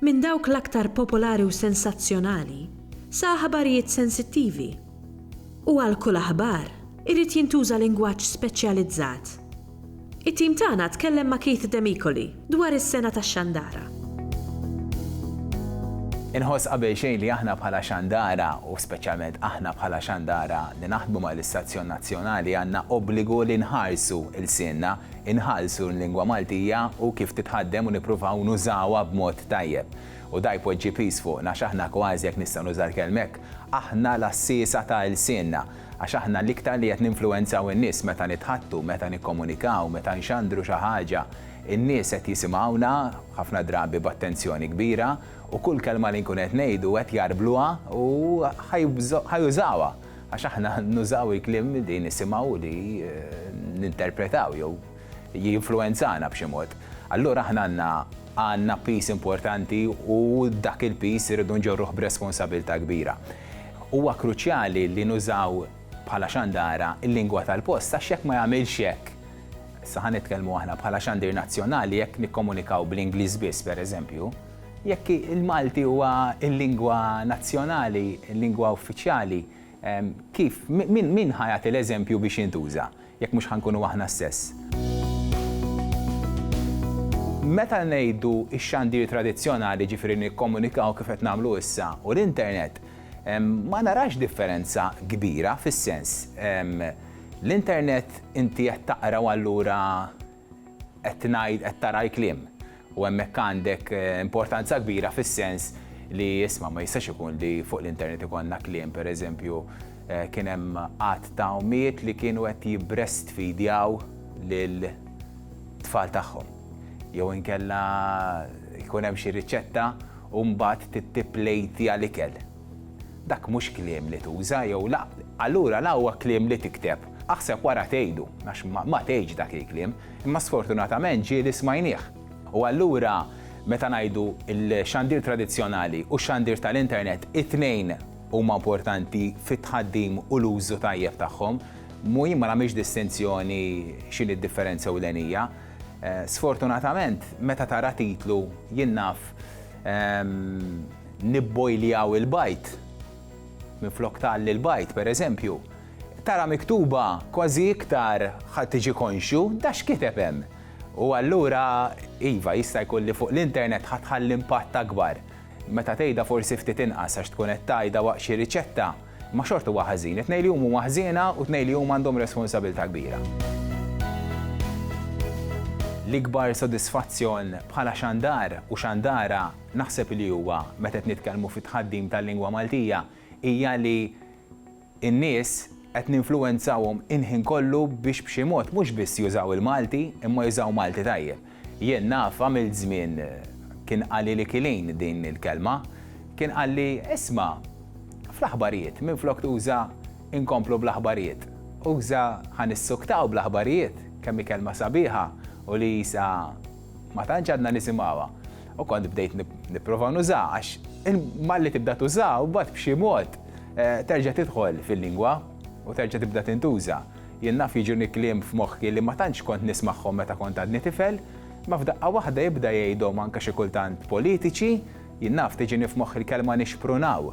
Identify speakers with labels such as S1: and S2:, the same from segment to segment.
S1: Minn dawk l-aktar popolari u sensazzjonali sa aħbarijiet sensittivi. U għal kull aħbar, irid jintuża lingwaġġ speċjalizzat. It-tim tagħna tkellem ma' Keith Demicoli dwar is-sengħa tax-xandara. Inħoss qabelxejn li aħna bħala xandara, u speċjalment aħna bħala xandara li naħdmu mal-istazzjon nazzjonali għandna obbligu li nħarsu lsienna, inħallsu l-lingwa Maltija u kif titħaddem u nippruvaw nużawha b'mod tajjeb. U da jpoġġi piż fuqna x'aħna kważi jekk nista' nuża l-kelma hekk, aħna l-għassiesa ta' ilsienna, għax aħna l-iktar li qed ninfluwenzaw in-nies meta nitħaddtu, meta nikkomunikaw, meta nxandru xi ħaġa, in-nies qed jisimgħuna ħafna drabi b'attenzjoni kbira u kull kelma li nkun qed ngħidu qed jarbluha u ħa jużawha. Għax aħna nużaw il-kliem li nisimgħu u li ninterpretaw jew jinfluwenzana b'xi mod. Allura aħna għandna għandna piż importanti u dak il-piż irridu nġorruh b'responsabilità kbira. Huwa kruċjali li nużaw bħala xandara l-lingwa tal-post għax jekk ma jagħmilx hekk, issa ħa nitkellmu aħna bħala xandir nazzjonali jekk nikkomunikaw bl-Ingliż biss pereżempju, Jekk il-Malti huwa l-lingwa nazzjonali, il-lingwa uffiċjali, kif, min ħa jagħti l-eżempju biex jintuża, jekk mhux ħa nkunu aħna stess? Meta ngħidu x-xandir tradizzjonali, jiġifieri nikkomunikaw kif qed nagħmlu issa, u l-internet, ma narax differenza kbira, fis-sens, l-internet inti qed taqraw allura, qed tingħid qed tara l-kliem u hemmhekk għandek importanza kbira fis-sens li isma' ma jistax ikun li fuq l-internet ikollna kliem pereżempju kien hemm għadd ta' ommijiet li kienu qed jibbrestfidjaw lil tfal tagħhom. Jew inkella jkun hemm xi riċetta u mbagħad tipplejtja l-ikel. Dak mhux kliem li tuża jew la, allura la huwa kliem li tikteb. Aħseb wara tgħidu, għax ma tgħidx dak il-kliem, imma sfortunatament ġie li smajnieh. U allura meta ngħidu l-xandir tradizzjonali u x-xandir tal-internet, it-tnejn huma importanti fit-tħaddim u l-użu tajjeb tagħhom. Mhu jien ma nagħmilx distinzjoni x'inhi d-differenza ewlenija. Sfortunatament meta tara titlu jien naf Nibbojljaw il-bajd. Minflok tgħalli l-bajd, pereżempju, tara miktuba kważi iktar ħa tiġi konxju da x'kiteb hemm. U allura, iva, jista' jkun li fuq l-internet ħa tħalli impatt akbar. Meta tgħidha forsi ftit inqas għax tkun qed tgħidha waqt xi riċetta, imma xorta huwa ħażin. It-tnejn li huma huma ħżiena u t-tnejn li huma għandhom responsabilità kbira. L-ikbar sodisfazzjon bħala xandar u xandara naħseb li huwa, meta qed nitkellmu fi tħaddim tal-lingwa Maltija, hija li n-nies qed ninfluwenzawhom il-ħin kollu biex b'xi mod mhux biss jużaw il-Malti, imma jużaw Malti tajjeb. Jien naf, għamilt żmien, kien qalili Killeen din il-kelma, kien qalli, isma', fl-aħbarijiet, minflok tuża inkomplu bl-aħbarijiet, uża ħa nissuktaw bl-aħbarijiet, kemm hi kelma sabiħa u li qisha, Ma tantx għadna nisimgħuha. U kont bdejt nipprova nużaha għax malli tibda tużaha u bad b'xi mod eh, terġa' tidħol fil-lingwa u terġa' tibda tintuża. Jien naf jiġuni kliem f'moħħi li ma tantx kont nismagħhom meta kont għadni tifel, ma f'daqqa waħda jibda jgħidhom anke xi kultant politiċi, jien naf tiġini f'moħħi l-kelma nixprunaw.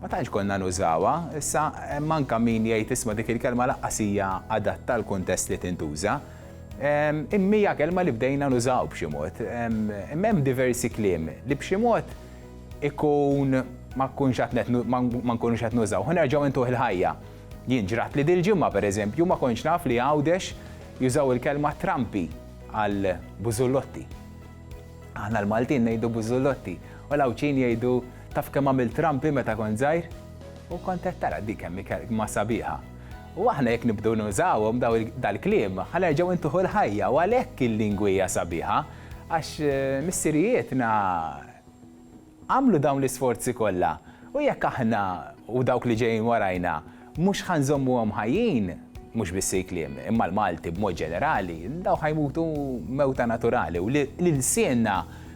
S1: Ma tantx konna nużawha, issa hemm anke min jgħid isma' dik il-kelma laqqas hija adatta l-kuntest li tintuża, Imma hija kelma li bdejna nużaw b'xi mod. Imma hemm diversi kliem li b'xi mod ikun ma nkunx ma nkunux qed nużaw. Ħa nerġgħu intuh il-ħajja. Jien ġratli dil-ġimgħa pereżempju ma kontx naf li Għawdex jużaw il-kelma trampi għal bużullotti. Aħna l-Maltin ngħidu bużullotti u l-Għawdxin jgħidu taf kemm għamilt trampi meta kont żgħir? U kont qed tara dik kemm hi kelma sabiħa. U aħna jekk nibdew nużawhom dal-kliem, ħa nerġgħu ntuħu l-ħajja u għalhekk il-lingwi hija sabiħa għax missirijietna għamlu dawn l-isforzi kollha u jekk aħna u dawk li ġejjin warajna mhux ħa nżommuhom ħajjin, mhux biss il-kliem, imma l-Malti b'mod ġenerali, dawn ħa jmutu mewta naturali u l-ilsienna